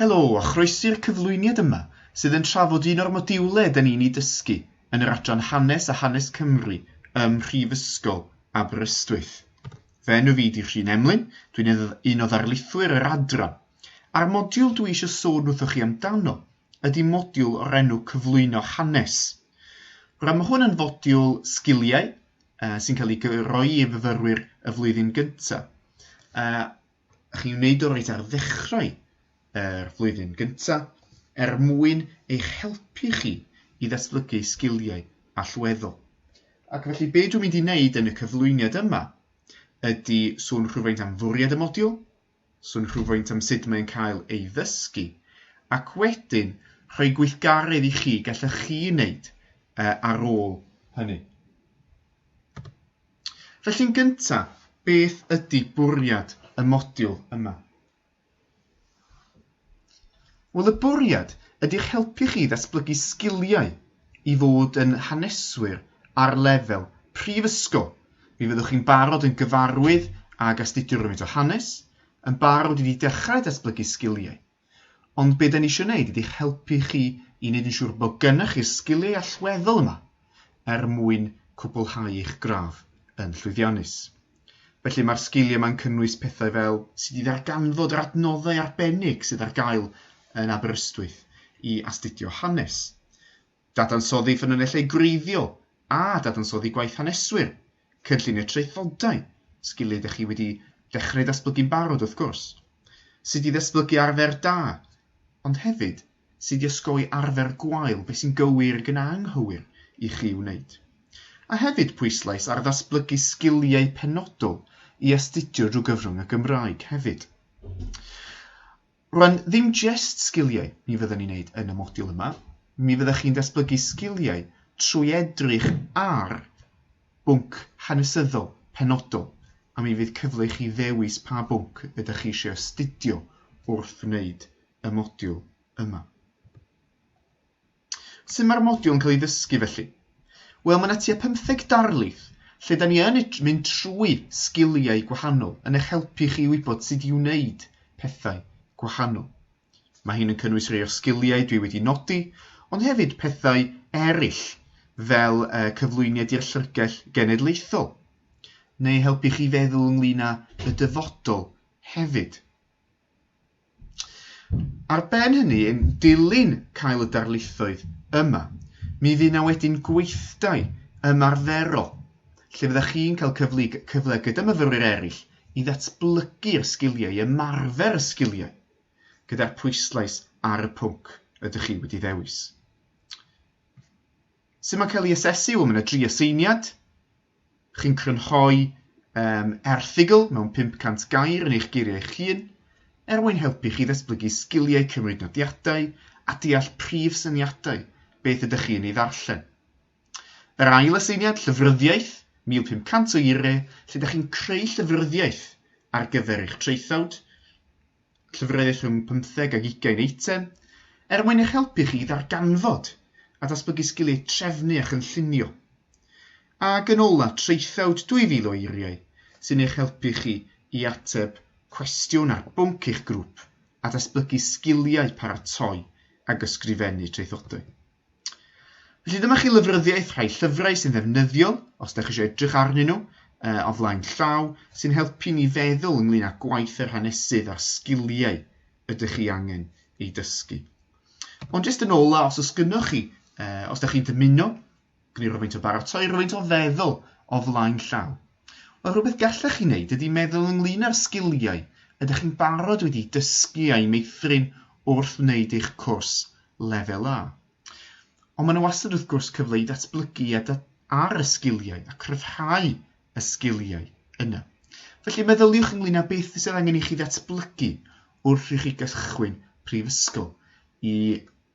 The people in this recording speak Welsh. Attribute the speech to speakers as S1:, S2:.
S1: Helo a chroesi'r cyflwyniad yma sydd yn trafod un o'r modiwlau da ni'n ei dysgu yn yr adran Hanes a Hanes Cymru ym Mhrifysgol Aberystwyth. Fy enw fi di Rhun Emlyn, dwi'n un o ddarlithwyr yr adran, a'r modiwl dwi eisiau sôn wrthoch chi amdano ydy modiwl o'r enw cyflwyno hanes. Rydym mae hwn yn fodiwl sgiliau uh, sy'n cael ei gyroi i fyfyrwyr y flwyddyn gyntaf. Uh, chi'n wneud o'r reit ar ddechrau yr flwyddyn gyntaf er mwyn eich helpu chi i ddatblygu sgiliau allweddol. Ac felly, be dwi'n mynd i wneud yn y cyflwyniad yma ydy sôn rhywfaint am fwriad y modiwl, sôn rhywfaint am sut mae'n cael ei ddysgu, ac wedyn rhoi gweithgaredd i chi gallech chi wneud ar ôl hynny. Felly'n gyntaf, beth ydy bwriad y modiwl yma? Wel y bwriad ydy'ch helpu chi i ddatblygu sgiliau i fod yn haneswyr ar lefel prifysgol. Mi fyddwch chi'n barod yn gyfarwydd ag astudio rywfaint o hanes, yn barod i fi dechrau datblygu sgiliau. Ond be da ni eisiau gwneud ydy'ch helpu chi i wneud yn siŵr bod gennych chi'r sgiliau allweddol yma er mwyn cwblhau eich gradd yn llwyddiannus. Felly mae'r sgiliau yma'n cynnwys pethau fel sut i ddarganfod yr adnoddau arbennig sydd ar gael yn Aberystwyth i astudio hanes, dadansoddi ffynonellau gwreiddiol a dadansoddi gwaith haneswyr, cynllunio traethodau, sgiliau dych chi wedi dechrau datblygu'n barod wrth gwrs, sut i ddatblygu arfer da, ond hefyd sydd wedi osgoi arfer gwael beth sy'n gywir gan anghywir i chi wneud, a hefyd pwyslais ar ddatblygu sgiliau penodol i astudio drwy gyfrwng y Gymraeg hefyd. Rwan, ddim jest sgiliau mi fyddwn ni'n wneud yn y modiwl yma, mi fyddech chi'n datblygu sgiliau trwy edrych ar bwnc hanesyddol penodol, a mi fydd cyfle i chi ddewis pa bwnc ydych chi eisiau astudio wrth wneud y modiwl yma. Sut mae'r modiwl yn cael ei ddysgu felly? Wel, mae yna tua 15 darlith lle da ni yn mynd trwy sgiliau gwahanol yn eich helpu chi i wybod sut i wneud pethau gwahanol. Mae hyn yn cynnwys rhai o'r sgiliau dwi wedi nodi, ond hefyd pethau eraill fel uh, cyflwyniad i'r llyfrgell genedlaethol, neu helpu chi feddwl ynglyn â y dyfodol hefyd. Ar ben hynny, yn dilyn cael y darlithoedd yma, mi fydd 'na wedyn gweithdai ymarferol lle fyddech chi'n cael cyfle, cyfle gyda myfyrwyr eraill i ddatblygu'r sgiliau, i ymarfer y sgiliau gyda'r pwyslais ar y pwnc ydych chi wedi ddewis. Sut mae'n cael ei asesu? Wel, mae yna dri aseiniad, Chi'n crynhoi um, erthygl mewn 500 gair yn eich geiriau eich hun, er mwyn helpu chi ddatblygu sgiliau cymryd nodiadau a deall prif syniadau beth ydych chi yn ei ddarllen. Yr ail aseiniad, llyfryddiaeth, 1500 o eiriau, lle ydych chi'n creu llyfryddiaeth ar gyfer eich traethawd, llyfrau rhwng pymtheg ac ugain eitem, er mwyn eich helpu chi i ddarganfod a datblygu sgiliau trefnu a chynllunio. Ac yn ola, traethawd 2,000 o eiriau sy'n eich helpu chi i ateb cwestiwn ar bwnc eich grŵp a datblygu sgiliau paratoi ac ysgrifennu traethodau. Felly dyma chi lyfryddiaeth rhai llyfrau sy'n ddefnyddiol, os da chi eisiau edrych arnyn nhw, uh, o flaen llaw, sy'n helpu ni feddwl ynglyn â gwaith yr hanesydd a'r sgiliau ydych chi angen ei dysgu. Ond jyst yn ola, os oes gynnwch chi, uh, os da chi'n dymuno, gwneud rhywfaint o baratoi, rhywfaint o feddwl o flaen llaw, Wel, rhywbeth gallech chi wneud ydy meddwl ynglyn â'r sgiliau ydych chi'n barod wedi dysgu a'u meithrin wrth wneud eich cwrs Lefel A. Ond mae yna wastad wrth gwrs cyfle i ddatblygu ar y sgiliau a cryfhau y sgiliau yna. Felly meddyliwch ynglyn â beth sydd angen i chi ddatblygu wrth i chi gychwyn prifysgol i